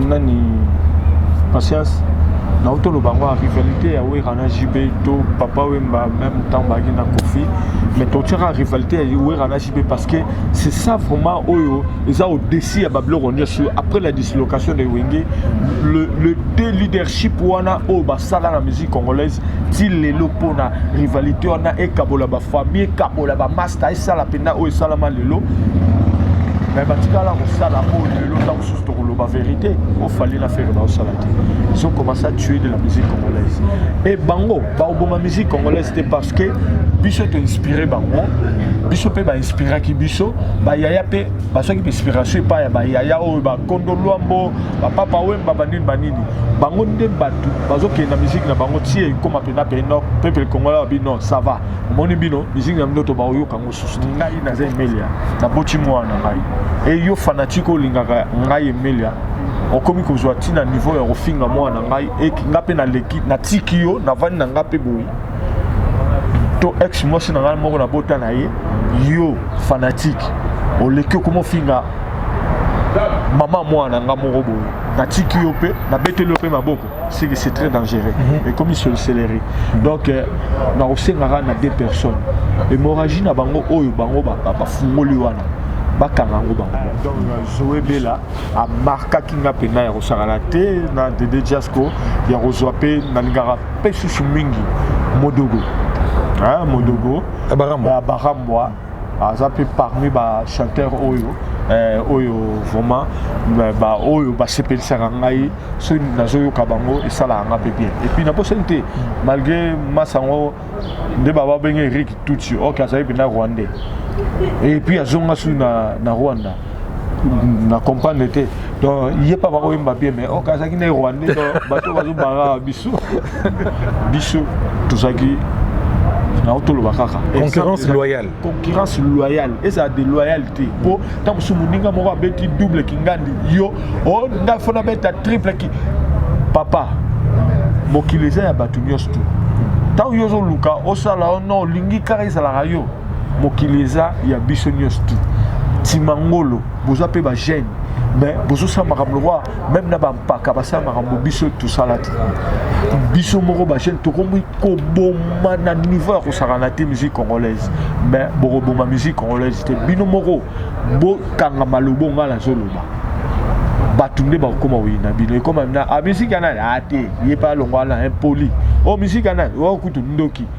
nani patience nauti toloba yango ya rivalité ya wera na jb to papa wemba même ntango bayaki na kofi mais totiaka rivalité ya wera na jb parce que c'est ça vraiment oyo eza odesi ya babiloko nyonso après la dislocation de wenge le, le deux leadership wana oyo basala na musique congolaise ti lelo mpona rivalité wana ekabola bafamille ekabola bamasi Taisala mpenza oyo esalama lelo me batikala kosala oyo lelo ntango mosusu tokoloba verité oyo fali na fere baosala te ils ont commencé à tuer de la musique congolaise e bango baoboma musique congolaise te parce que biso toinspire bango biso mpe bainspiraki biso bayaya mpe bazwaki mpe inspiration epai ya bayaya oyo bakondo lwambo bapapa wemba banini banini bango nde bato bazokende na musique na bango tie ekoma mpenza mpe no peuple congolais babi non ça va omoni bino musique na bino to baoyoka yango susu te ngai naza emelia naboti mwana na ngai e yo fanatike olingaka ngai emelia okomi kozwa ntina niveau ya kofinga mwana na ngai e nga mpe naleki natiki yo navandi na nga mpe boye to ex mwasi na ngai moko nabota na ye yo fanatike oleki okomi ofinga mama mwana na nga moko boye natiki yo mpe nabeteli yo mpe maboko c'est très dangereux mhm. et comme ils se le célérer donc euh, na osengaka na deux personnes hémorragie na bango oyo bango bafungoli wana bakanga yango bango donc zoe bela amarkaki nga mpenza ya kosakana te na dede jasco ya kozwa mpe nalingaka mpe susu mingi modogo modogo ya barambwa aza mpe parmi bachanteur oyo eh, oyo vraiment eh, baoyo basepelisaka ngai soki nazoyoka bango esalaka ngai mpe bien epuis nabosani te malgré masa yango nde bababenge eric tutsi oke azali mpenza rwandais epuis azonga soki na, na rwanda na comprendre te donc ye mpe bakoyemba bien mais ok azalaki na rwandais donc bato bazobanga biso biso tozalaki nango toloba kaka concurrence loyale concurrence loyale ezala de loyale te mpo ntango mosusu moninga moko abeti double kingandi yo o oh, ngai fona beta triple ki papa mokili eza ya bato nyonso tu ntango yo ozoluka osala ono olingi kaka ezalaka yo mokili eza ya biso nyonso tu timangolo boza mpe bagene mais bozosala makambo lokola meme na bampaka basala makambo biso tosala te biso moko bagene tokomi koboma na niveau ya kosakana te musique congolaise mais bokoboma musique congolaise te bino moko bokanga maloba onga nazoloba bato nde bakokoma koyina bino ekoma na ah, musike ya nani ate ah, ye mpe alongwa na impoli o oh, musike ya nani o oh, kutu ndoki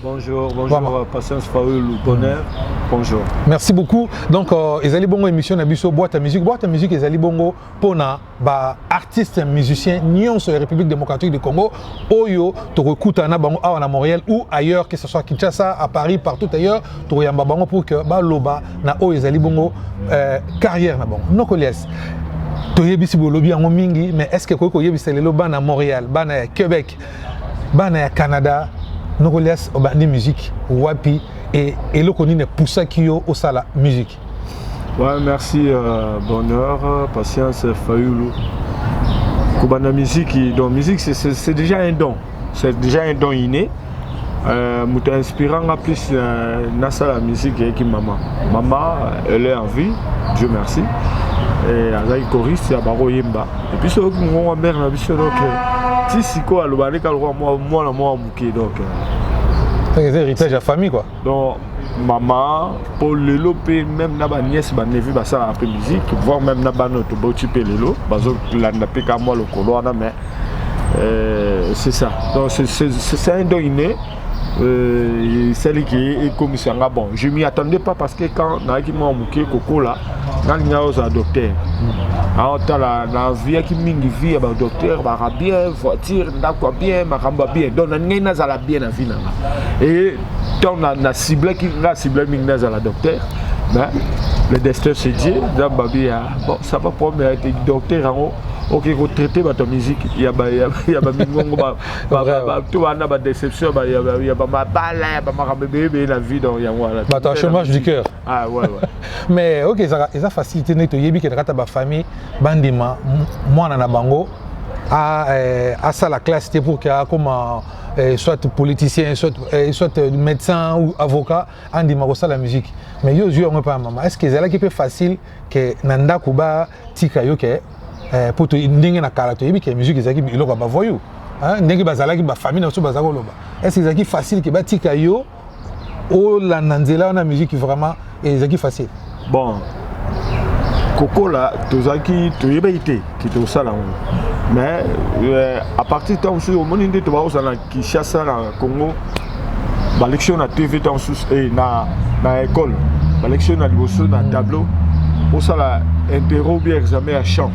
Bonjour, bonjour Vraiment. Euh, Patience Faulu, tonnerre. Mm. Bonjour. Merci beaucoup. Donc, euh, ezali bongo émission na biso boîte à musique. Boîte à musique ezali bongo pona ba artistes musiciens nyonso ya République démocratique du Congo oyo tokokuta na bango awa na Montréal ou ailleurs que ce soit Kinshasa, à Paris, partout ailleurs, tokoyamba bango pour que ba loba na oyo ezali bongo euh, carrière na bango. Noko Lies. toyebisi bolobi yango mingi mais est ce que ekoki koyebisa lelo bana montréal bana ya québec bana ya canada nokolias obandi musique wapi e eloko nini epusaki yo osala musique ouais, merci euh, bonheur patience fayulu kobanda musique donc musique c'est déjà un don c'est déjà un don inné euh, moto euh, inspira nga plus euh, nasala musique eyaki mama mama elle est en vie dieu merci azalaki choriste ya bakoyemba biso oyoki mongongo ya mare na biso donc ti sikoyo aloba nde kaka lokola mwana moko moke donc eza héritage ya famille quoi donc mama mpo lelo mpe meme na baniese banevi basalaka mpe musique voir meme na bana oyo toboti mpe lelo bazolanda mpe ka mwa lokolo wana mais euh, c'est ça donc c'est un don inné Euh, celle qui est comme ça bon je m'y attendais pas parce que quand nayaki mwa moke kokola nalinga ozala docteur hmm. aotala ah, nazuyaki mingi vie ya badocteur baka bien voiture ndako ya bien makambo ya bien donc nalingai nazala bien na vie nanga e ntango na ciblaki nga cible mingi nazala docteur mais le destin se dit nzambe abi ya bon ça va problème ya docteur yango okoki kotraite bato ya miziki ya bamingongo bato wana ba déception ya bamabala ya bamakambo ebeyebeye na vie donc yango wana bato ya chômage du cœur ah, ouais, ouais. mais ok ezaka eza facilité ndenge toyebi kena kata bafamille bandima mwana na bango eh, asala classe te pour ke akoma eh, soit politicien soit, eh, soit euh, médecin ou avocat andima kosala musique mais yo ozwi yango epai ya mama est ce que ezalaki mpe facile ke na ndako ba tika yo ke eh, po ndenge na kala toyebi ke musique ezalaki eloko ya bavoyou hein, ndenge bazalaki bafamille na biso baza koloba est ce ezalaki facile ke batika yo olanda nzela wana musique vraiment eh, ezalaki facile bon kokola tozalaki toyebaki te ke tosala yango mais euh, à partir ntango mosusu omoni nde tobakosala Kinshasa na Congo balekisi yo na TV ntango mosusu eh, na, na ekole balekisi yo na liboso na tableau osala interro bien examen ya champ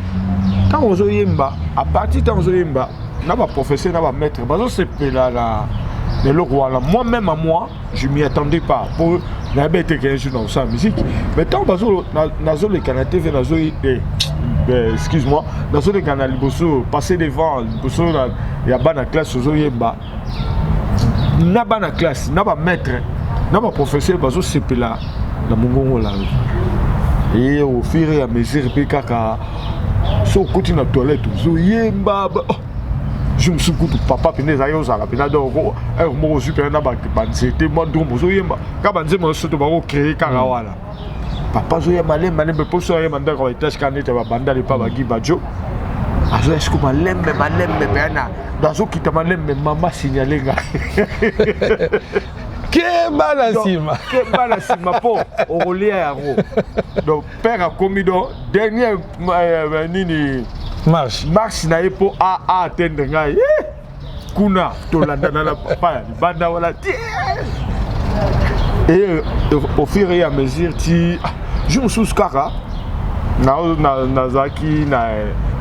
ntango ozoyemba apartir ntango ozoyemba na baprofesseur na bamaître bazosepela na eloko wana moi même à moi je m'y attendais pas po nayebi ete ke un jour nakosala musique mais ntango nazoleka na tv nazo eh, eh, excuse moi nazoleka na liboso passer devant liboso ya bana classe ozoyemba na bana classe na bamaître na baprofesseur bazosepela na mongongo na yo eye au fur et à mesure mpe kaka so okoti na toilette ozoyemba oh. jour mosusu kutu papa mpenza ezali ozala mpenza donc heure moko ozwi mpenza na banzete mwa drome ozoyemba kaka banzemba nyonso to bakocree kaka mm. wana papa azoya malembe malembe mposo ayemba ndako ya etage kana ete babandali mpa bagi bajo azoya siko malembe malembe mpenza na do azokita malembe mama signale nga keba na nsima keba na nsima mpo okolia yango donc père akomi do dernier euh, nini marche marche na ye mpo a a atteindre ngai eh! kuna tolandana na papa ya libanda wana ti et au fur et à mesure ti ah, je mosusu kaka nazalaki na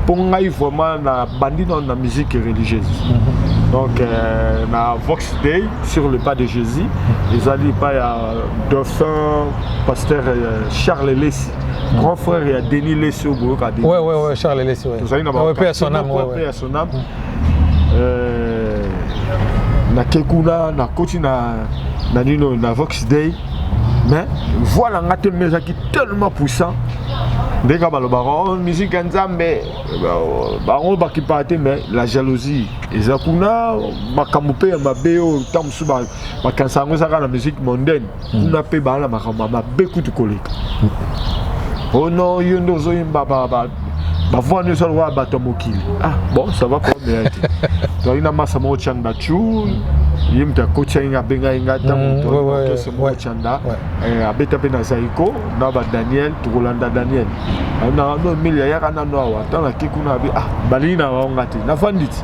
mpo ngai vraiment nabandi nano na musique religieuse mhm. donc euh, na vox day sur le pas de jésus ezali epai ya Dauphin pasteur euh, Charles Lessi grand frère ya Denis Lessi au Boyo Kadeni. Ouais ouais ouais Charles Lessi ouais. Tozali na ba ouais, paix à son âme ouais ouais. Paix à son âme. Euh, na Kekuna na koti na na nino na Vox Day mais voix na nga te mais ezalaki tellement puissant ndenge kaka balobaka oh, musique ya nzambe bango bakipaka te mais la jalousie eza kuna makambo mpe ya mabe oyo ntango mosusu makanisa yango ezaka na musique mondaine hmm. kuna mpe baa na makambo ya mabe kutu koleka ono yo nde ozoyemba bavua nyonso alokola bato ya mokili ah bon ça va problème ya te tozali na masa moko chanda chul ye moto akoti yange abengaki ngai ntango hmm, motoese moko chanda eh, abeta mpe na zaiko na badaniel tokolanda daniel ah, na no emeli ayaka nano awa ntango nake kuna abi ah balingi na bango nga te nafandi ti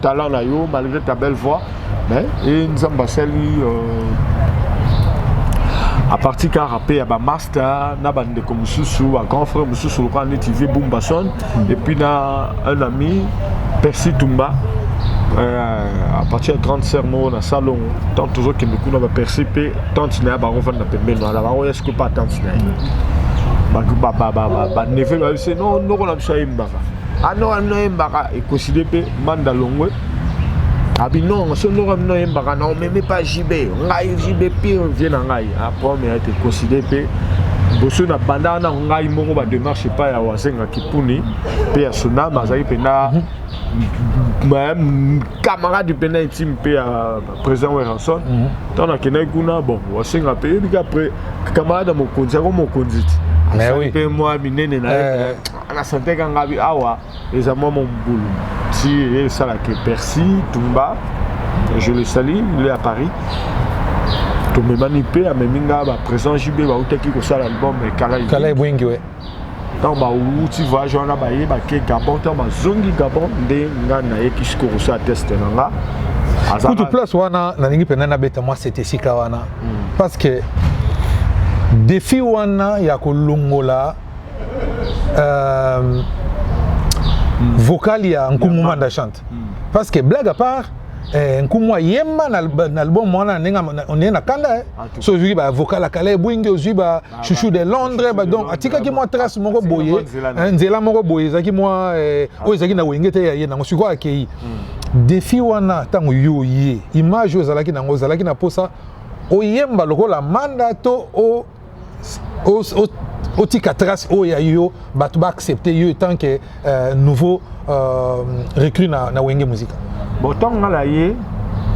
talent na yo malgré ta belle voix mais et nzambe asali euh, à partir ka rapper ya ba master na ba ndeko mususu ba grand frère mususu lokola neti vie bumbason mm. et puis na un ami Percy Tumba euh, à partir ya grande sœur moko na salon tant tozokende kuna baperci mpe tante na ye bango vanda pembeni wana bango eske pa tante na ye baneve bayebi se no noko na biso ayembaka ano ah, ano yembaka ekoside mpe manda longwe abi ah, non so ndoko bino yembaka na omeme pa jb ngai jb pire vie na ngai aprome ah, ete ekoside mpe liboso na banda wana ngai moko bademarche epai ya wasenga kipuni mpe ya sonama azali mpena mhm. camarade mpena intime mpe ya président weranson mhm. ntango nakendaki kuna bon wasenga mpe yebi ka camarade ya mokonzi yango mokonzi ti asali mpe mwa minene na ye eh. na sante ka ngabi awa eza mwa mombulu ti esalaka persi tumba je le sali le à paris tomemani mpe amemi nga baprésent jb bautaki kosala album kala ebwengi we ntango bauti voyage wana baye bake gabon ntango bazongi gabon nde nga nayeki sikoyo kosala teste na nga kutu place wana nalingi mpenza nabeta mwa sete esika wana hmm. parce que defi wana ya kolongola euh, mm. vocal ya nkumu manda chante mm. parce que blague à part eh, nkumu ayemba na album wana ndenge oneye na kanda eh. ah, so ozwiki bavocal ya kala ebwingi ozwi ba ah, chouchou de londres donc atikaki mwa trace moko boye eh, nzela moko boye ezalaki mwa eh, ah. oyo ezalaki na wenge te ya ye nango sikoyo akei hmm. defi wana ntango yo ye image oyo ezalaki nango ozalaki na mposa oyemba lokola manda to o otika trace oyo ya yo bato ba accepte yo etant que euh, nouveau euh, recrue na, na wenge musika bon ntango nga na ye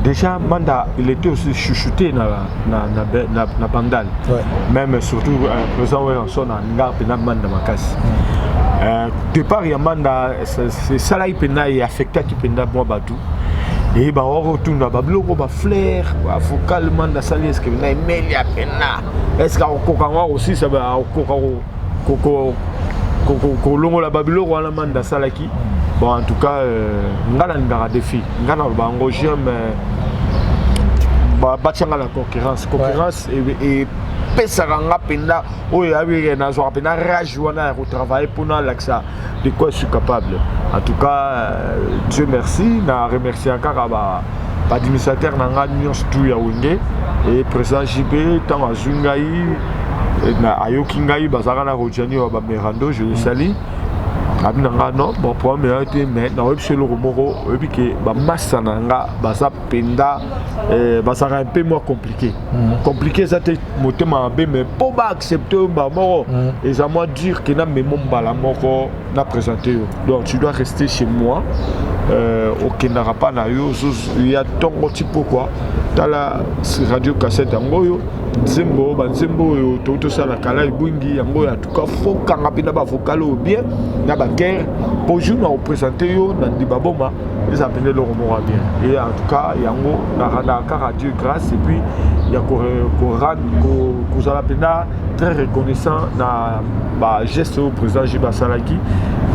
déjà manda il était aussi chouchouté na, na, na, na, na bandal ouais. même surtout euh, président weyanson alinga mpena manda makasi mm. euh, départ ya manda esalaki mpena e affectaki mpena mwa bato eyeba oko otunda babiloko baflair bavocal manda asali eske na emeli ya pena eske akokoka yango akosisa akokoka kolongola babiloko wana manda asalaki bon en tout cas euh, nga nalingaka defi nga naloba yango j'aime euh, batyanga na concurrence concurrence epesaka nga mpenza oyo yabi nazwaka mpenza rage wana ya kotravaille mpo nalakisa de quoi je suis capable en tout cas euh, dieu merci na remercier kaka ba baadministrateur na ngai nyonso tu ya wenge e président jb ntango azwi ngai ayoki ngai bazalaka na rojani ya bamerando je le sali abi na ngai non bon problème eya te mais naoyebi so eloko moko oyebi ke bamasa na ngai baza mpenza eh, bazalaka mpe mwa compliqué mhm. compliqué eza te motema mabe mais mpo ba accepte yo mbala moko mm. eza mwa dire ke na memo mbala moko na présente yo donc tu dois rester chez moi euh, okendaka mpa na yo ya ntongo ti pokwa tala radio cassette yango oyo nzembo banzembo oyo touti tosala kala ebwingi yango ya faut kanga mpe na bavocal oyo bien na bakere mpo jour na kopresente yo na ndimba boma eza mpenza eloko moko ya bien e en tout cas yango narandaka kaka dieu grâce et puis ya kozala mpenza très reconnaissant na bageste oyo président jib asalaki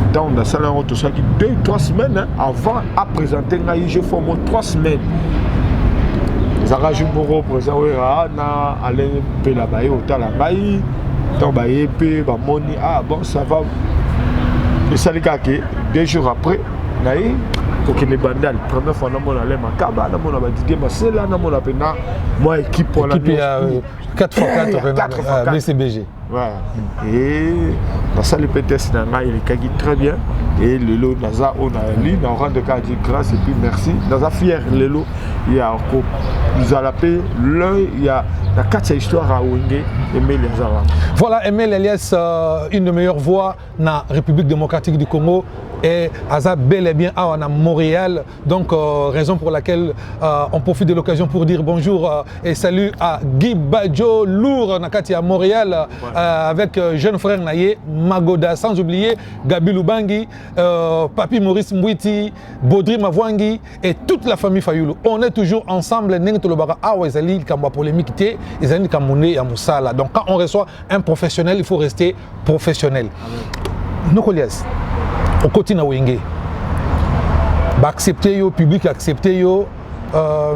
ntango nasala yango tosalaki deux trois semaines avant apresente ngai je fo mo trois semaines ezalaka jour moko président wera na alain mpela baye otala ngai ntango baye mpe bamoni ah bon ça va esali kaka ke deux jours après na ye kokende bandal première fois namona le makaba namona badidie masela namona mpena mwa équipe wana 4x4 bcbg nasali mpe test na ngai elekaki très bien e lelo naza oyo nayali na orande kaka di grâce epuis merci naza fier lelo ya kozala mpe l'œil ya na kati ya histoire ya wenge emeli aza wana voilà emeli alias euh, une de meilleure voix na république démocratique du congo et aza bel et bien awa na montréal donc euh, raison pour laquelle euh, on profite de l'occasion pour dire bonjour euh, et salut à guy badjo lour na kati ya montréal ouais. Euh, avec euh, jeune frère na ye magoda sans oublier gabi lubangi papi maurice mbwiti bodri mavwangi et toute la famille Fayulu on est toujours ensemble ndenge tolobaka awa ezali likambo ya polémique te ezali likambo nde ya mosala donc quand on reçoit un professionnel il faut rester professionnel nokolias okoti na wenge baaccepte yo public accepte yo euh,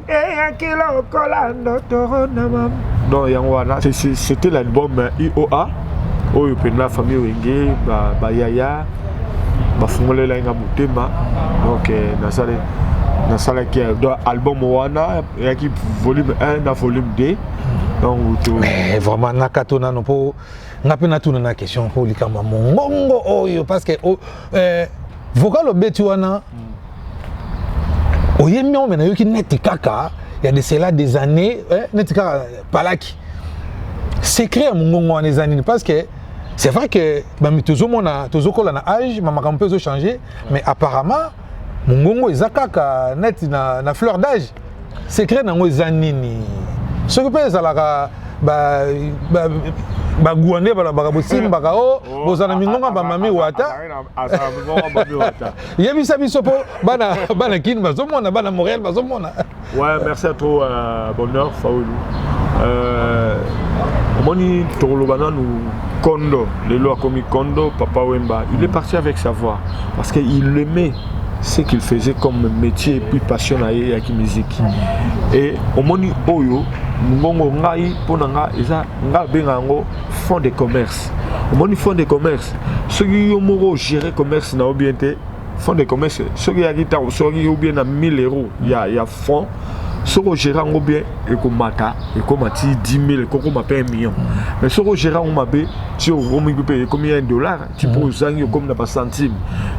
eyaki lokola ndotoro na mama donc yango wana c'était l'album ioa oyo mpenza famille wenge bayaya bafungolelaki nga motema donc eh, nasali nasalaki eh, donc album wana eyaki volume 1 na volume 2 donc eh, vraiment nakato nano mpo nga mpe natuna na question mpo likambo ya mongongo oyo parce que oh, eh, Vocal obeti wana hmm. oyembi yango me nayoki neti kaka ya de cela des années eh, neti kaka palaki secret ya mongongo wana eza nini parce que c'est vrai que bami tozomona tozokola na âge ma makambo mpe ezochange mais apparemment mongongo eza kaka neti na, na fleur d'âge secret nango eza nini soki mpe ezalaka ba, ba, baguwa nde balobaka bosimbaka o oh, oh, bozala mingonga bamami wata yebisa biso mpo bana bana kini bazomona bana montréal bazomona ouais merci à trop euh, bonheur faulu euh, omoni tokoloba nanu kondo lelo akomi kondo papa wemba il est parti avec sa voix parce que il aimait ce qu'il faisait comme métier et puis passion na ye eyaki musique et omoni oyo mbongo ngai mpo na nga eza ngai abenga yango fond de commerce omoni fond de commerce soki yo moko ogere commerce na yo bien te fond de commerce soki eyaki ntango soki yo bien na 1000 euros ya, ya fond soki ogere yango bien ekomata ekoma ti 10 000 ekokoma mpe 1 million mais soki ogere yango mabe ti okomi mpe ekomi 1 dollar ti mpo ozangi okomi na bacentime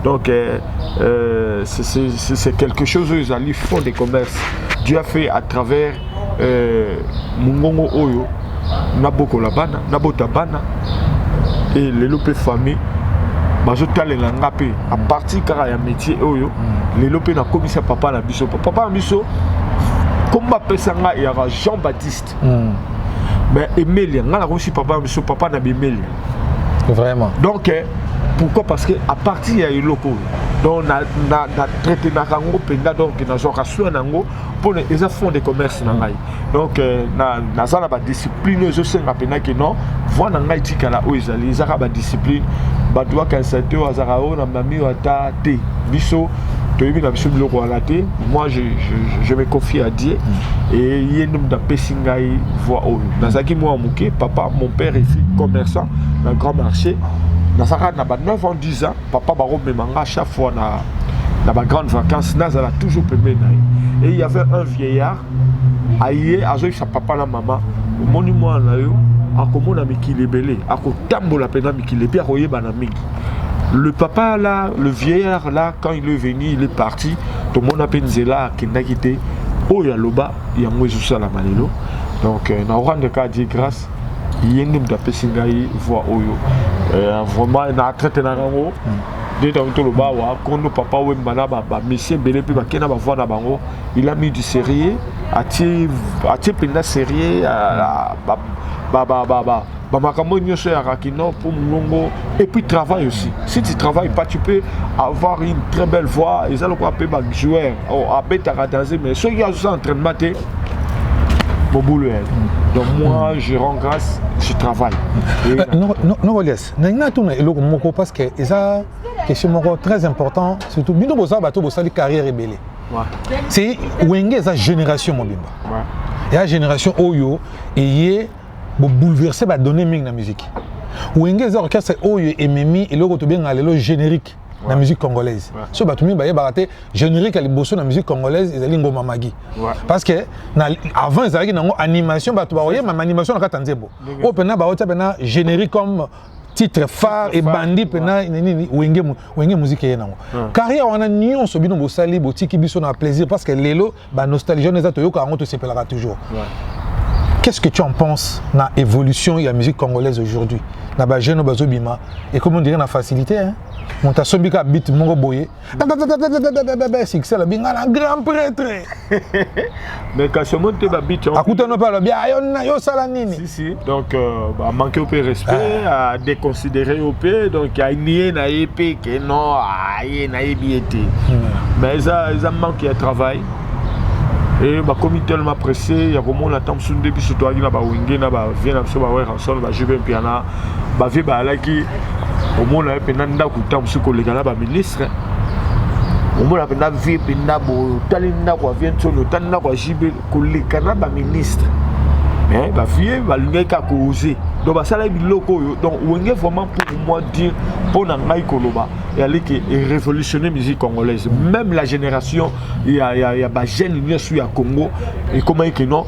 donc euh, euh, c'est quelque chose oyo ezali fond de commerce dieu a fait à travers euh, mongongo oyo nabokola bana nabota bana e lelo mpe famille bazotalela nga mpe apartir kaka ya métier oyo mm. lelo mpe nakomisa papa na biso papa na biso nkombo apesa nga yaka jean baptiste Christ mm. mais emelia ngai nakosi papa na biso papa na bemelia vraiment donc eh, pourquoi parce que à partir ya eloko oyo donc na, na, na traitenaka yango mpenza donc nazwaka soin na yango mpona eza fond de commerce na ngai donc euh, naza na badiscipline oyo ezosenga mpenza ke non voi na ngai tikala oyo ezali ezaka badiscipline bato bakanisa te oyo azalaka oyo na mami oyo ata te biso toyebi na biso biloko wana te moi je, je, je me confie à dieu mm. e ye nde moto apesi ngai voix oyo nazalaki mwa moke papa mon père efi commerçant na grand marché nazalaka na ba 9 ans 10 ans papa bakomema nga chaque fois na, na ba grande vacances nazala toujours pembeni na ye e y avait un vieillard aye azoyebisa papa na mama omoni mwana na yo akomona mikili ebele akotambola mpenza Qu'il était akoyebana mingi. Le papa là, le vieillard là, quand il est venu, il est parti. Tomona pe nzela akendaki te. Oyo aloba yango ezosalama lelo. Donc euh, na rendre ka Dieu grâce. ye nde moto apesi ngai voix oyo euh, vraiment na traite na yango nde ntango toloba awa kondo papa wemba na bamisie ebele mpe bakei na bavoi na bango il a mis du sérieux atie mpenza sérieux Ba makambo nyoso ya Rakino pour Mungongo et puis travail aussi. Si tu travailles pas, tu peux avoir une très belle voix. Ils allaient quoi ba joueur oh, à beta ratazé mais ceux qui ont entraînement te boulot. Hein. Donc moi je rends grâce, je travaille. Euh, non non non Elias, n'a tout na eloko moko parce que eza question moko très important surtout bino boza bato bosali carrière ebele. Ouais. C'est wenge eza génération mobimba. Ouais. Ya génération oyo eye Bo bouleverser ba données mingi na musique. Wenge eza orchestre oyo ememi eloko tobenga lelo générique ouais. na musique congolaise. Ouais. So bato mingi bayebaka te générique ya liboso na musique congolaise ezali ngoma magi. Ouais. Parce que na avant ezalaki nango animation bato bakoyema ma animation na kata nzembo. Oyo pena baotia pena générique comme titre phare et bandi pena nini wenge wenge musique ye nango. Carrière wana nyonso bino bosali botiki biso na plaisir parce que lelo ba nostalgie wana eza toyoka yango tosepelaka toujours qu'est-ce que tu en penses na évolution ya musique congolaise aujourd'hui na ba jeune bazobima ekomi ondire na facilité hein? moto asombi ka bit moko boye succès alobi ngai na grand prêtre akutana mpe alobi ayo osala nini ici donc euh, ba manquer pe respect ah. à déconsidérer yo pe donc a nier na ye pe que non a ye na ye bien te hmm. mais eza eza manque ya travail e bakomi tellement pressé ya komona ntango mosusu nde biso toyaki na bawenge na bavie na biso baweranson bajeu mpe mpiana bavie bayalaki omona ye mpenza ndako ntango mosusu koleka na baministre omona mpenza vie mpenza boye otali ndako ya vie nsoni otali ndako ya jb koleka na ba ministre mais ba vieux balingaki kaka koose donc basalaki biloko oyo donc wenge vraiment pour moi dire mpo na ngai koloba eyali ke révolutionner musique congolaise même la génération ya, ya, ya bagene nyonso ya congo ekomaki ke non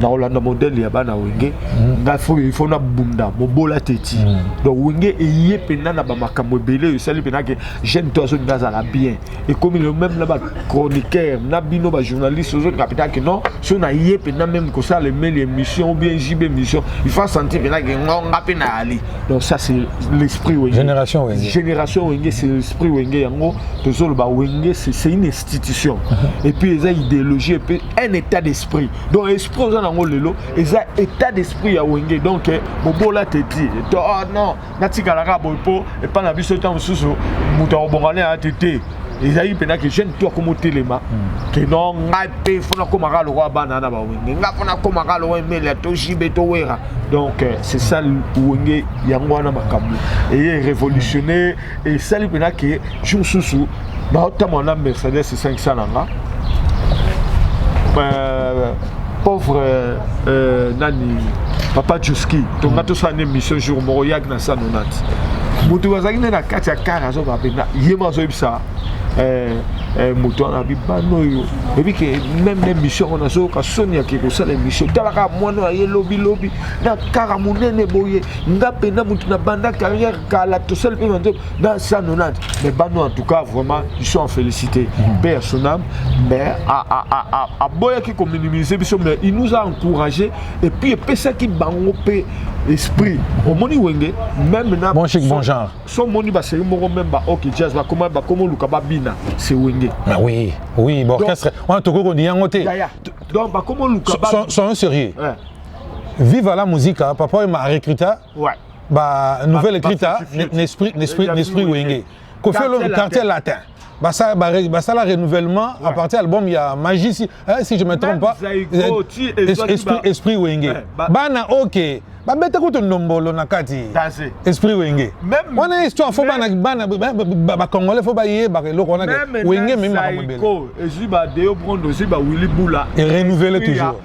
nakolanda modele ya bana wenge mm. ngai fo il faut nabunda mobola teti mm. donc wenge eye mpenza na bamakambo ebele oyo esali mpenza ke jeune to azolinga azala bien ekomi lelo meme na bachroniqueur na bino bajournaliste ozoki kapita ke non so na ye mpena meme kosala emeli émission ou bien jb émission il faut sentir mpena ke ngo nga mpe na ali donc ça c'est l'esprit wenge génération wenge génération wenge c'est l'esprit wenge yango tozoloba wenge c'est une institution mhm. et puis eza idéologie mpe un état d'esprit donc esprit oza nango lelo eza état d'esprit ya wenge donc eh, bobola te ti to oh non natikala kaka boye mpo epai na biso ntango mosusu moto akobonga na ya te te ezali mpena ke jeune to akoma otelema hmm. ke no ngai mpe fona akomaka lokola bana na bawenge ngai fona akomaka lokola emelia to jibe to wera donc euh, c'est ça wenge yango wana makambo eye révolutionne esali mpena ke jour mosusu baotambola na mercedes 500 na nga euh, pauvre euh, euh, nani papa juski tonga mm. tosala na émission jour moko yaki na sanonati moto bazalaki nde na kati ya kare azoka mpenza ye mo azoyebisa euh, euh, moto wana abi bana oyo oyebi ke meme na émission yango nazoyoka soni yake kosala émission talaka mwana oyo aye lobilobi na kara monene boye nga mpenza moto na banda carrière kala tosali mpe banzo dans 190 mais bano en tout cas vraiment ils sont en félicité mhm. père son âme mais aboyaki kominimiser biso mais il nous a encouragé et puis epesaki bango mpe esprit omoni wenge même na bon chic bon genre so moni baseri moko même ba ok jazz bakoma bakoma oluka babina c'est wenge ah oui oui baorchestre wana tokoki kondini yango te donc bakoma oluka soyons sérieux viva la musica papa oyo ma recruta Ouais. Bah, nouvelle écrite, hein, Nesprit, Nesprit, Nesprit Wenge. Kofi Olomide, quartier latin. Bah, ça, bah, bah, ça, la renouvellement, ouais. à partir de l'album, il y a Magie, si, hein, si je ne me trompe pas. Zaïko, tu, esprit, esprit, esprit Wenge. Ouais, bah, bah, na, ok. babeta kutu ndombolo na kati esprit wenge wana histoire fo bacongolais fo bayebaka eloko wana wenge ememi makambo ebele ezwi badeo brondo ezwi bawilli bula erenouvele toujours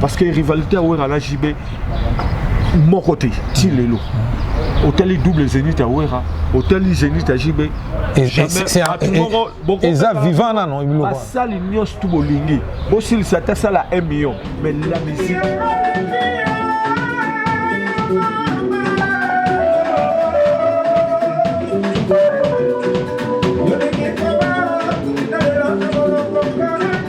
parce que rivalité ya wera na jb moko te ti lelo otali double zenith ya wera otali zenith ya jb eza vivant nano bilokobasali nyonso tu bolingi bosilisa ata sala 1 million mais la musique Thank you.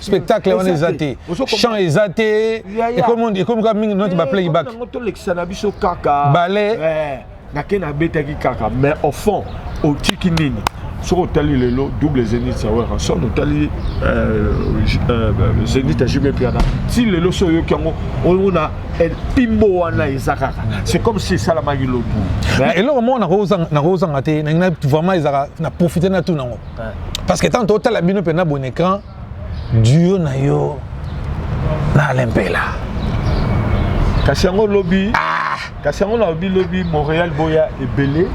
spectacle wana eza te chant eza te ekomi kaka mingi noti eh, baplayback tolekisa na biso kaka bale eh, nake nabetaki kaka mais au fond otiki nini soki otali lelo double zenith ya werrason otali euh, euh, zenith ya jb piana ti lelo so oyoki yango omona mpimbo wana eza kaka c'est comme si esalamaki lotu eloko moko nakozanga te vraiment ezalaka na profite na tuna yango parce que tant totala bino mpe na bon écran duo na yo na alempela kasi yango lobi ah! kasi yango nalobi lobi montréal boya ebele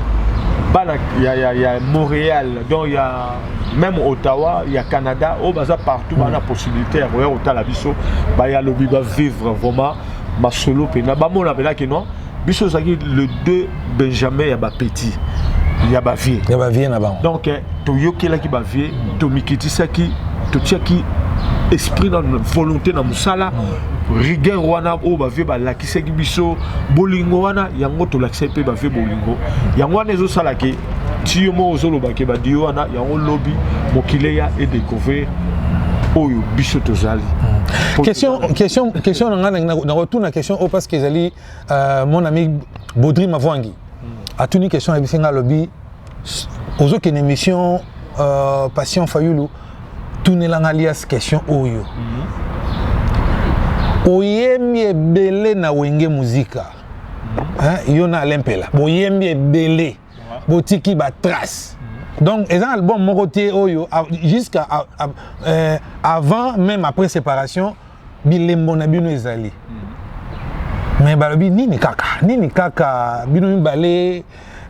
bana ya, ya, ya montréal donc ya même ottawa ya canada oyo baza partout bana mm. possibilité ya koya kotala biso baya lobi bavivre vraiment masolo mpena bamona mpena kino biso ozalaki le deux benjamin ya bapeti ya bavie ya bavie na bango donc eh, toyokelaki bavie tomikitisaki totiaki esprit na volonté na mosala rigueur wana oyo bavie balakisaki biso bolingo wana yango tolakisaki mpe bavie bolingo yango wana ezosalaki ti yo moko ozoloba ke badio wana yango lobi mokili eya edecouvrir oyo biso tozali hmm. question, question, question na ngai nakotuna question oyo parce que ezali euh, mon ami baudry mavwangi hmm. atuni question ayebisi ngai alobi ozokende émission euh, patient fayulu tunela ngai alias question oyo hmm. oyemi ebele na wenge muzika hein yo na lempela boyembi ebele botiki ba trace mhm. donc eza na album moko te oyo jusqu'à euh, avant même après séparation bilembo na bino ezali mhm. mais balobi nini kaka nini kaka bino mibale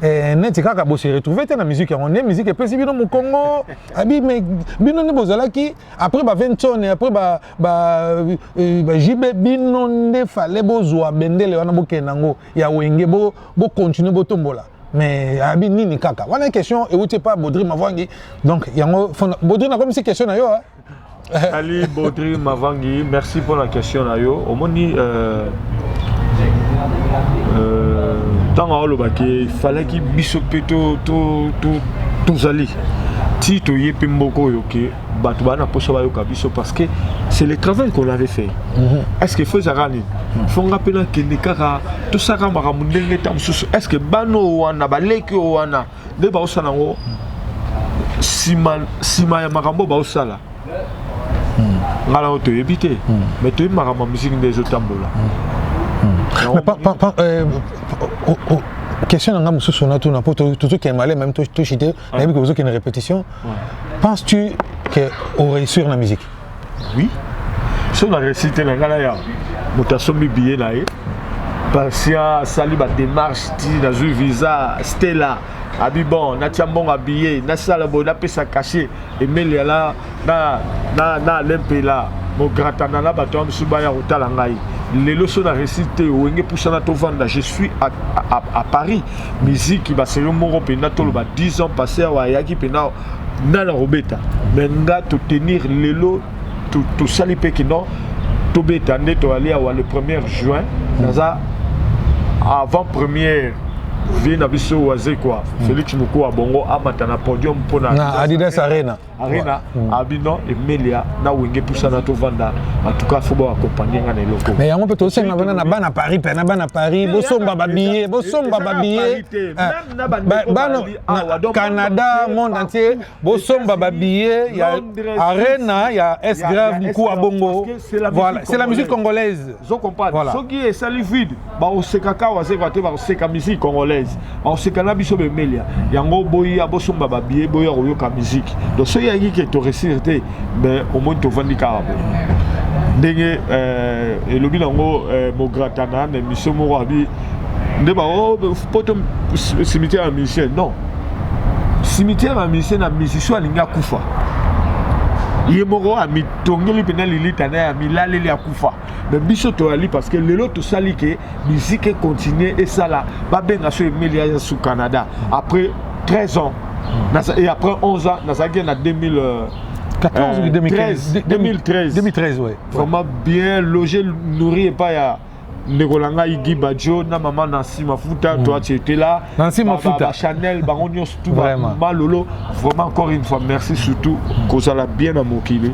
eh, neti kaka bo se retrouver te na musique yango nde musique epesi bino mokongo abi mais bino nde bozalaki après ba 20 tone après ba ba eh, ba JB bino nde fallait bozwa bendele wana bokende nango ya wenge bo bo continuer botombola mais abi nini kaka wana question euti epa bodri mavangi donc yango bodri nakomisi question na yo hein? ali bodri mavangi merci mpona question na yo omoni euh, euh, ntango aolobaki falaki biso mpe tozali ti toye mpe mboko oyo ke bato baa na mposa bayoka biso parce que c'est le travail qu'on avait fait mhm. est ce que fo ezalaka nini mhm. fo nga mpe nakende kaka tosaka makambo ndenge nta mosusu est ce que bana oyo wana baleki oyo wana nde baosala yango nsima ya makambo baosala mhm. ngai nango toyebi te mais toyebi makambo ya miziki nde ezotambola euh, question na ngai mosusu natuna mpo tozokende malema meme toshite Ah. nayebi que une répétition penses tu que oréussir la musique oui soki na réussi te na ngai na ya moto asombi biye na ye patient asali badémarche ti nazwi visa stella abi bon natya mbongo abiye nasala boye napesa cachet emeli ala na, na, na Alain Mpela mogratana na bato ya mosusu baya kotala ngai lelo so na resi te wenge pusana tovanda je suis à, à, à paris miziki baserio moko mpenza toloba 10 ans passé awa ayaki mpenza nana kobeta me nga totenir lelo tosali mpe kino tobeta nde toyali awa le 1er juin naza avant première vie na biso wazekwa félix mokuwa bongo amata na podium mpo na adidas arena arena hmm. abi non emelia na wenge pusana tovanda en tout cas fo baakompagne nga na eloko mais yango mpe tosenga mpena na bana paris mpe na bana paris bosomba babillet bosomba babillet bana canada monde entier bosomba babillet ya arena ya s grave mkuwa bongo voilà c'est la musique congolaise voilà soki esali vide bakosekaka awa sekwa te bakoseka musique congolaise bakoseka na biso bemelia yango boya bosomba babiye boya koyoka musique donc soki yangi ke toresire te me omoni tovandi kaka boye ndenge euh, elobi nango euh, mogratana na émission moko abi nde bao oh, poto cimetière ya musicien non cimetière ya musicien na musicien alingi akufa ye moko amitongeli mpenza lilita na ye amilaleli akufa mais biso toyali parce que lelo tosali ke musique econtinue esala babenga so emeli ya su canada après 13 ans mm. et après 11 ans nazalaki na 2000 euh, 14 ou 2013 2013 2013 ouais vraiment bien logé nourri epai ya ndeko na ngai guy badjo na mama nansi mafuta mm. toi tu étais là na nse mafuta chanel bango nyonso tu malolo vraiment encore une fois merci surtout kozala bien na mokili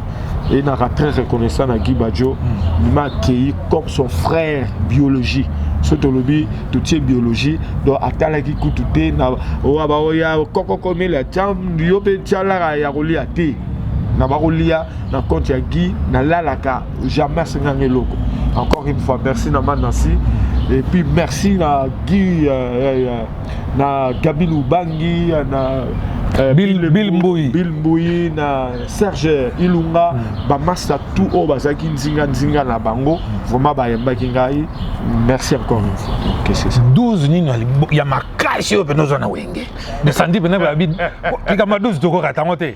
et naka très reconnaissant na guy badjo mm. m'a accueilli comme son frère biologie soki tolobi totie biologie donc atalaki kutu te na oyo baoya kokokomela tya yo mpe tyalaka ya kolia te na bakolia na compte ya guy nalalaka jamais asenganga eloko encore une fois merci na ma nancy et puis merci na guy euh, euh, euh na gabi lubangi euh, na euh, Bill, Bill Mbuyi Bill Mbuyi na Serge Ilunga mm. ba master tout oyo bazalaki nzinga nzinga na bango vraiment bayembaki ngai merci encore une fois okay, c'est ça 12 nini ya makasi oyo mpenza oza na wenge mais sandi mpenza babi kikama 12 tokokata yango te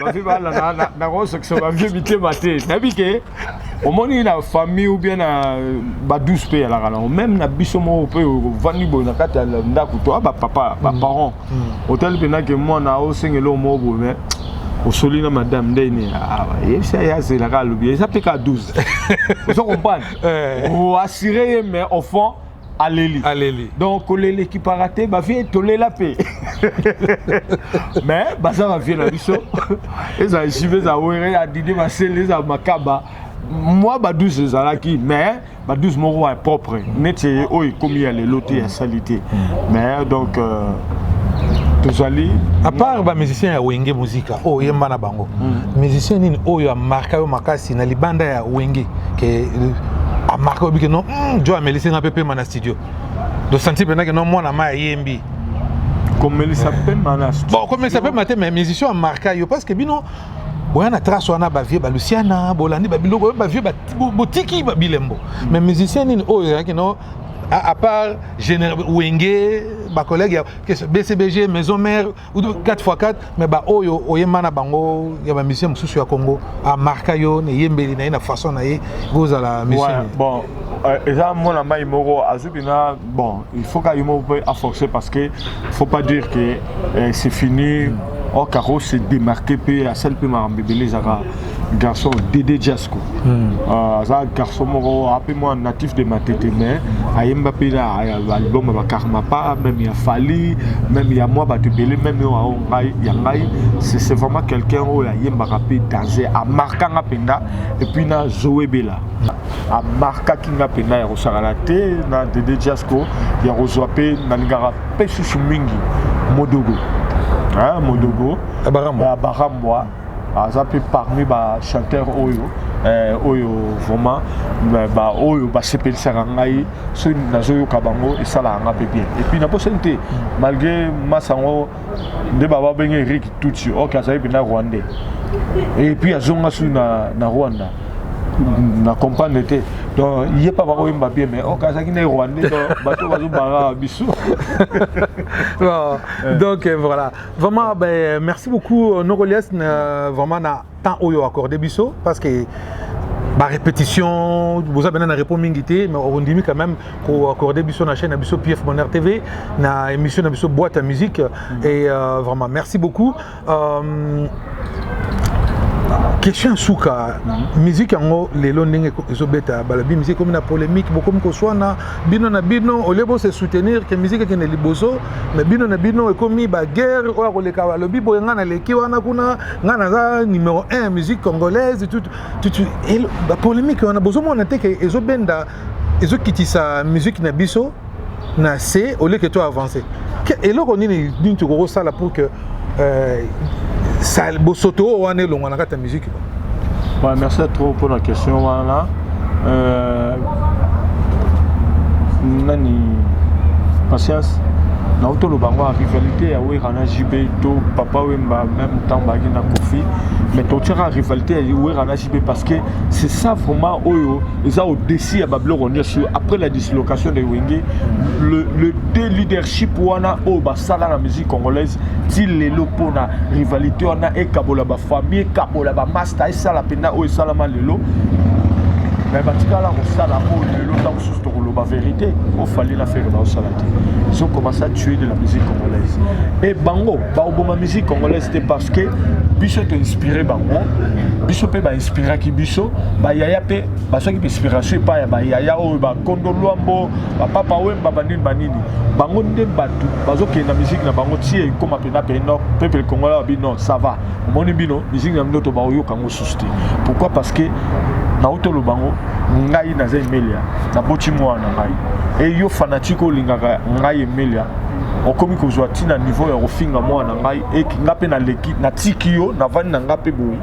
bavi balala nakosokisa bavie mitema te nayebi ke omoni na famille ou bien na badouce mpe yalaka nango meme na biso moko mpe ovandi boye na kati ya ndako to bapapa baparent mm. mm. otali mpenza ke mwana osengeli oyo moko boye mais osoli na madame nde ne yebisa ye azelaka alobi eza mpe ka 12 ozo comprendre oassure ye mais au fond aleli aleli donc kolela ekipaka te bavie tolela mpe mais baza bavie na biso ezala jibe eza were ya didi masele eza makaba mwa ba 12 ezalaki mais ba 12 moko ya propre neti oyo ekomi ya lelo te ya sali te mm. mais donc euh, tozali apart bamusicien ya wenge muzika oyo oh, oyemba na bango mm. musicien nini oyo amarka yo makasi na libanda ya wenge ke euh, amarka yo bike non hmm, jo amelisi nga mpe pema na studio dosanti mpenza ke no mwana ma ayembi komelisa eh. pema na studio bon komelisa pema te mais musicien amarka yo parce que bino oya na trace wana bavie balusiana bolandi babiloko oyo bavie botiki babilembo mais musicien nini oyo ezalaki no à part wenge bacollègue ya bcbg maison mare uto 4x4 mais ba oyo oyemba na bango ya ba musicien mosusu ya Congo a marka yo na yembeli na ye na façon na ye kozala musicien ouais, bon euh, eza mwana mai moko azwi mpena bon il faut ka ye moko mpe aforce parce que faut pas dire que euh, c'est fini mm. or kako se démarquer mpe asali mpe makambo ebele ezaka garçon Dede Jasco hmm. euh, aza garçon moko ape mwa natif de Matete mais ayemba mpe na album ya bakarmapa même ya Fally même ya mwa bato ebele même oyo ao ngai ya ngai c'est vraiment quelqu'un oyo ayembaka mpe danse amarka nga mpenza epuis na Zoe Bela amarkaki nga mpenza ya kosakana te na Dede Jasco ya kozwa mpe nalingaka mpe susu mingi modogo modogo ya barambwa aza mpe parmi bachanteur oyo eh, oyo vraiment baoyo basepelisaka ngai soki nazoyoka bango esalaka ngai mpe bien epuis naposani te malgré masa yango nde baba benge erik tutsi ok azali mpena rwandais epuis azonga soki na, na rwanda na comprendre te donc ye mpe bakoyemba bien mais ok azalaki na rwandais bato bazobanga biso donc eh, voilà Vraiment, ben, merci beaucoup euh, Nogolias, euh, vraiment na temps oyo accordé biso parce que ba répétition boza bena na repos mingi te mais ondimi quand même ko accorder biso na chaîne na biso PF Bonheur TV na émission na biso boîte à musique mm -hmm. et euh, vraiment merci beaucoup euh, question suka mhm. musique yango lelo ndenge ezobeta balabi musique ekomi na polémique bokomi koswana bino na bino olie bose soutenir ke musique ekende liboso me bino na bino ekomi baguerre oyo akoleka balobi boye ngai naleki wana kuna ngai naza numero 1 musique congolaise bapolémike wana bozomona te ke ezobenda ezokitisa musique na biso na se oleke to avance eloko nini nini tokoki kosala pour que euh, sal bosoto oyo wana elongwa na kati ya miziki ouais, merci trop mpona question wana euh, nani patience nauti toloba yango ya rivalité ya wera na jb to papa wemba même temps baki na kofi mais totiaka rivalité ya wera na jb parce que c'est ça vraiment oyo eza odesi ya babiloko nyonso après la dislocation de wenge le, le deux leadership wana oyo sala na musique congolaise ti lelo mpona rivalité wana ekabola bafamille ekabola bamasta esala mpenza oyo esalama lelo me batikala kosala oyo lelo ntango mosusu tokoloba verité ofali na fere baosala te ils ont commencé à tuer de la musique congolaise e bango baoboma musique congolaise te parce que biso toinspire bango biso mpe bainspiraki biso bayaya mpe bazwaki mpe inspiration epai ya bayaya oyo bakondo lwambo bapapa wemba banini banini bango nde bato bazokende na miziki na bango ti ekoma mpena pei nord peuple congolais babi non ça va omoni bino miziki na bino to baoyoka yango susu te pourquoi parce que nauti oloba yango ngai naza emelia naboti mwana na ngai e yo fanatike olingaka ngai emelia okomi kozwa ti na niveau ya kofinga mwana na ngai e nga mpe naleki natiki yo navandi na nga mpe boye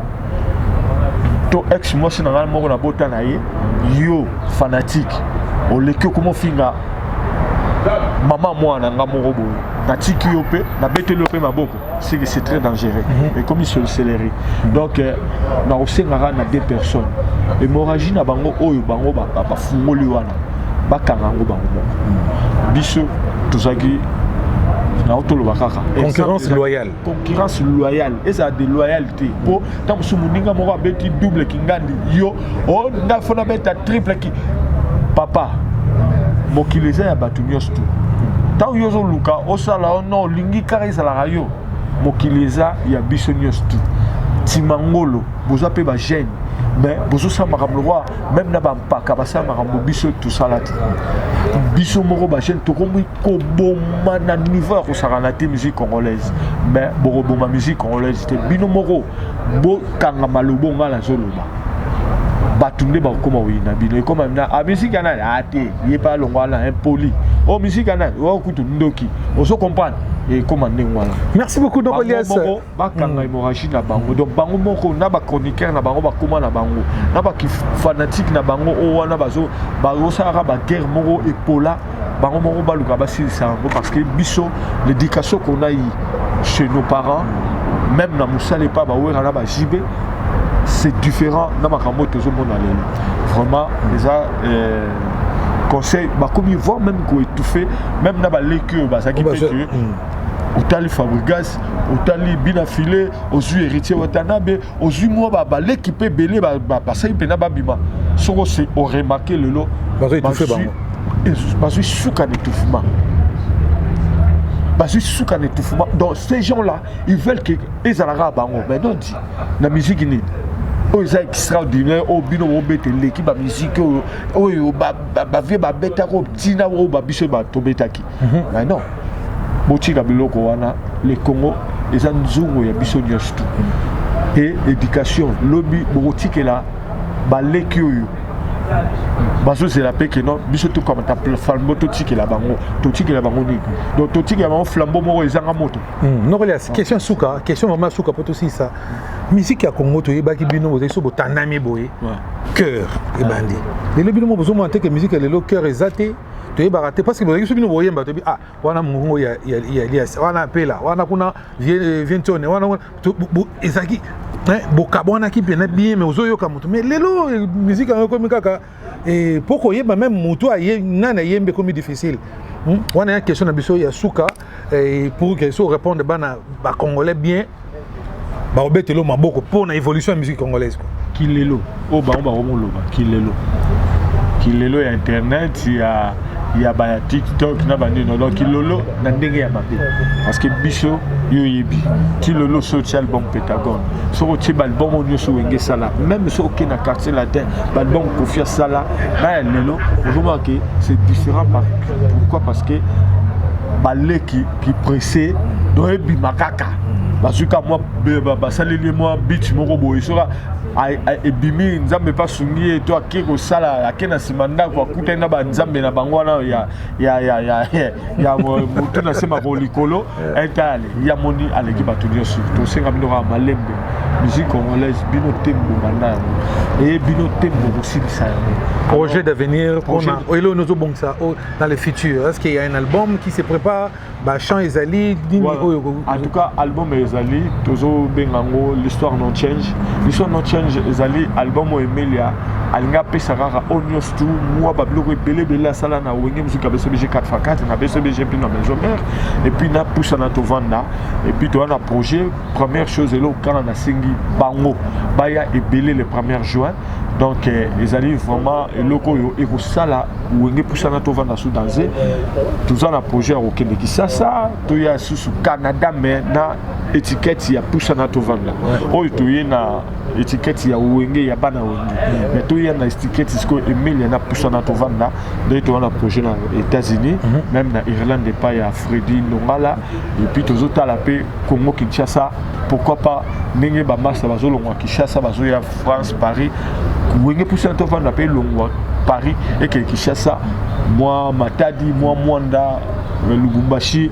to ex mwasi na ngai moko nabota na ye yo fanatike oleki okomi ofinga mama mwana nga moko boye natiki yo mpe nabeteli yo mpe maboko sili c'est très dangereux mhm. ekomi sorcellerie mhm. donc euh, nakosengaka na deux personnes hémorragie na bango oyo bango bafungoli wana bakanga yango bango moko mhm. biso tozalaki naotoloba kaka concurrence loyale concurrence loyale ezala de loyale te mpo ntango mosusu moninga moko abeti double kingandi yo o oh, ngai fona beta triple ki papa mokili eza ya bato nyonso tu ntango yo ozoluka osala o oh no olingi kaka ezalaka yo mokili eza ya biso nyonso tu timangolo boza mpe bagene mais bozosala makambo lokola meme na bampaka basala makambo biso tosala te biso moko bajeune tokomi koboma na niveau ya kosakana te musique congolaise mais bokoboma musique congolaise te bino moko bokanga maloba onga nazoloba bato nde bakokoma koyina bino ekoma na a ah, misiki ya nani ate ah, ye mpe alongwa na impoli o oh, misiki ya nani o oh, kutu ndoki ozo comprendre ekoma ndenge wana merci beaucoup noko lias bakanga hémorragie na bango donc bango moko na ba chroniqueur na bango bakoma na bango na ba fanatique na bango oyo wana bazo bazosalaka ba guerre moko epola bango moko baluka basilisa yango parce que biso l'éducation qu'on a eu chez nos parents même na mosala epa bawera na bajibe c'est différent na makambo oyo tozomona lelo vraiment eza euh, conseil bakomi voir même koétouffe même na baleki oyo bazalaki mpe otali fabrigas otali bina file ozwi héritier watanabe ozwi mwa babaleki mpe ebele basali mpena babima soko se oremake lelo bazwi suka na etouffement bazwi suka na etouffement donc ces gens là ils veulent que ezalaka bango mais non di na miziki nini oyo eza extraordinaire oyo bino bobeta eleki bamiziki oyo oyo bavie babetaka oyo ntina oyo babiso tobetaki Mhm. mais non botika biloko wana le congo eza nzungu ya biso nyonso tu e éducation lobi bokotikela baleki oyo bazozela mpe keno biso tokamata flambo totikela bango totikela bango nini donc totikela bango flambo moko ezanga moto hmm, nokoli question suka question mama suka mpo tosilisa miziki ya congo toyebaki bino bozali so botandami boye cœur ebandi lelo bino mo bozomona te ke miziki ya lelo cœur eza te toyebaka te parce que bozalaki soki bino boyemba toyebi ah wana mongongo ya elias wana apela wana kuna vientione wana ezalaki bokabwanaki mpena bien mais ozoyoka moto mais lelo miziki yango ekomi kaka mpo koyeba meme motu nani ayembi ekomi difficile wana ya question na biso ya suka Et pour que soit répondre bana ba congolais bien ba obetelo maboko pour na évolution de musique congolaise quoi. Kilelo o oh, ba ba omoloba kilelo. Kilelo ya internet ya ya ba TikTok na ba nino donc kilolo na ndenge ya mabe. Parce que biso yo yebi kilolo social album Pentagone. Soko ti ba album onyo so wenge sala même so ke na quartier latin ba album Kofia sala ba lelo ozoma que c'est différent par pourquoi parce que baleki ki presse donc ebima kaka bazwi ka mwa basaleli ye mwa beach moko boye soka ebimi nzambe mpe asungi ye to ake kosala ake na nsima ndako akutani na banzambe na bango wana ya motu na se makolo likolo etale eh, ya moni aleki bato nyonso tosenga bino kaka malembe musique congolaise bino te mbobanda yango eye bino te bokosilisa yango projet d'avenir mpona oyo oyo ozobongisa dans le futur est ce qu'il y a un album qui se prépare bachant ezali nini oyo en tout cas album ezali tozobenga yango l'histoire non change l'histoire non change ezali album oyo emelia alingi apesa kaka oyo nyonso tu mua ba biloko ebele ebele asala na wenge mosuki abeso bg 4 fa 4 na beso bg mpe na maison mère epuis napusana tovanda epuis toya na projet première chose eloko kaka nasengi bango baya ebele le première juin donc eh, ezali vraiment eloko oyo ekosala wenge pusana tovanda su danze toza na projet ya kokende kisasa toya susu canada mais na étiquette ya pusana tovanda oyo toye na etiketi ya wenge ya bana wenge me toya na etiketi sikoyo emelia na pusana tovanda ndenge toya na projet na états-unis mhm. meme na irlande epai ya fredi nongala epuis tozotala mpe congo kinshasa pourquoi pas ndenge bamasta bazolongwa kinshasa bazoya france paris wenge pusana tovanda mpe elongwa paris ekee kinshasa mwa matadi mwa mwanda lubumbashi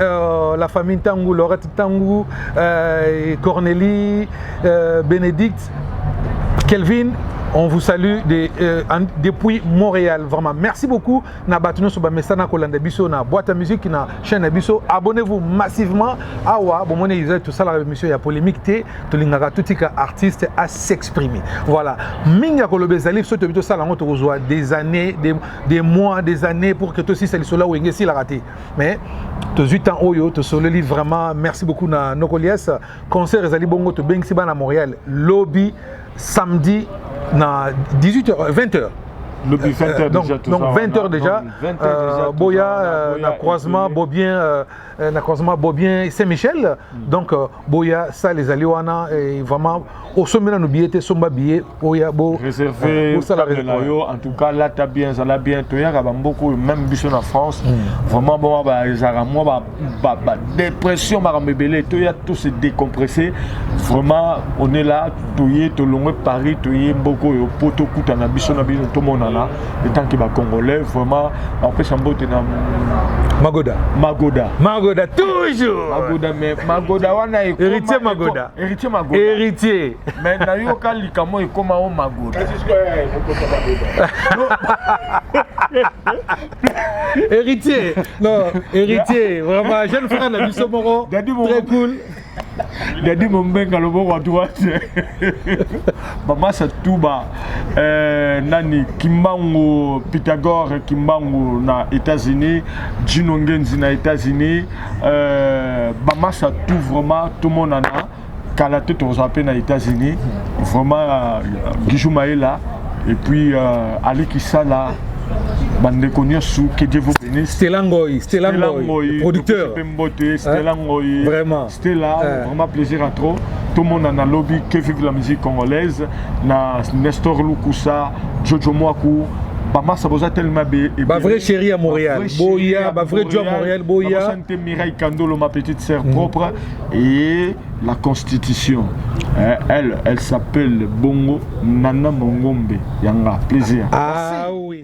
Euh, la famille Tangu, Laurette Tangu, euh, Cornélie, euh, Bénédicte, Kelvin, on vous salue de, euh, en, depuis Montréal vraiment merci beaucoup na bato nyonso bamesana kolanda biso na boîte ya musique na chaîne na biso abonnez-vous massivement awa bomoni ezali tosalaka émission ya polémique te tolingaka totika artiste à s'exprimer voilà mingi ya koloba ezali biso toyebi tosala yango tokozwa des années des, des mois des années pour que tosisa lisolo ya wenge esilaka te mais tozwi temps oyo tosololi vraiment merci beaucoup na nokolias concert ezali bongo tobengisi bana montréal lobi samedi na 18 h 20 h lobi 20 h euh, donc, déjà, donc 20 h déjà, euh, boya euh, na croisement bobien euh, na croisement bobien saint michel mm. donc euh, boya sale ezali wana eh, vraiment osombi nanu biye te somba biye oya bosala ah, na yo en tout cas lata bien zala bien toyaka bamboka oyo même biso na france hmm. vraiment boma baezalaka mwa badépression makambo ebele toya to se décompresser vraiment on est là toye tolongwe paris toye mboka oyo mpo tokutana biso na biso tomonana etanke bacongolais vraiment napesa mbote na magoda magoda magoda toujours magoda mais magoda wana héritier magoda héritier magoda héritier mais nayoka likambo ekoma o magoda héritier non héritier vraiment jeune frère na biso moko très cool Daddy Mombenga loboko à droite. Baba Satuba euh, nani Kimbangu Pythagore Kimbangu na États-Unis, Gino Ngenzi na États-Unis, euh, Baba Satou vraiment tout mon nana kala te tozwa mpe na États-Unis vraiment euh, Gijou Maela et puis euh, Ali Kisala bandeko nyonso que Dieu vous bénisse. Stella Ngoy, Stella Ngoy, producteur. Mbote Stella Ngoyi. Vraiment. Stella, eh. vraiment plaisir à trop. Tout le monde en a lobby, que vive la musique congolaise. Na Nestor Lukusa, Jojo Mwaku, bamasa boza tellement be ba vrai chéri ya Montréal boya ba vrai joie Montréal boya santé Mireille Kandolo ma petite sœur mm. propre et la constitution eh, elle elle s'appelle Bongo Nana Mongombe yanga plaisir ah oui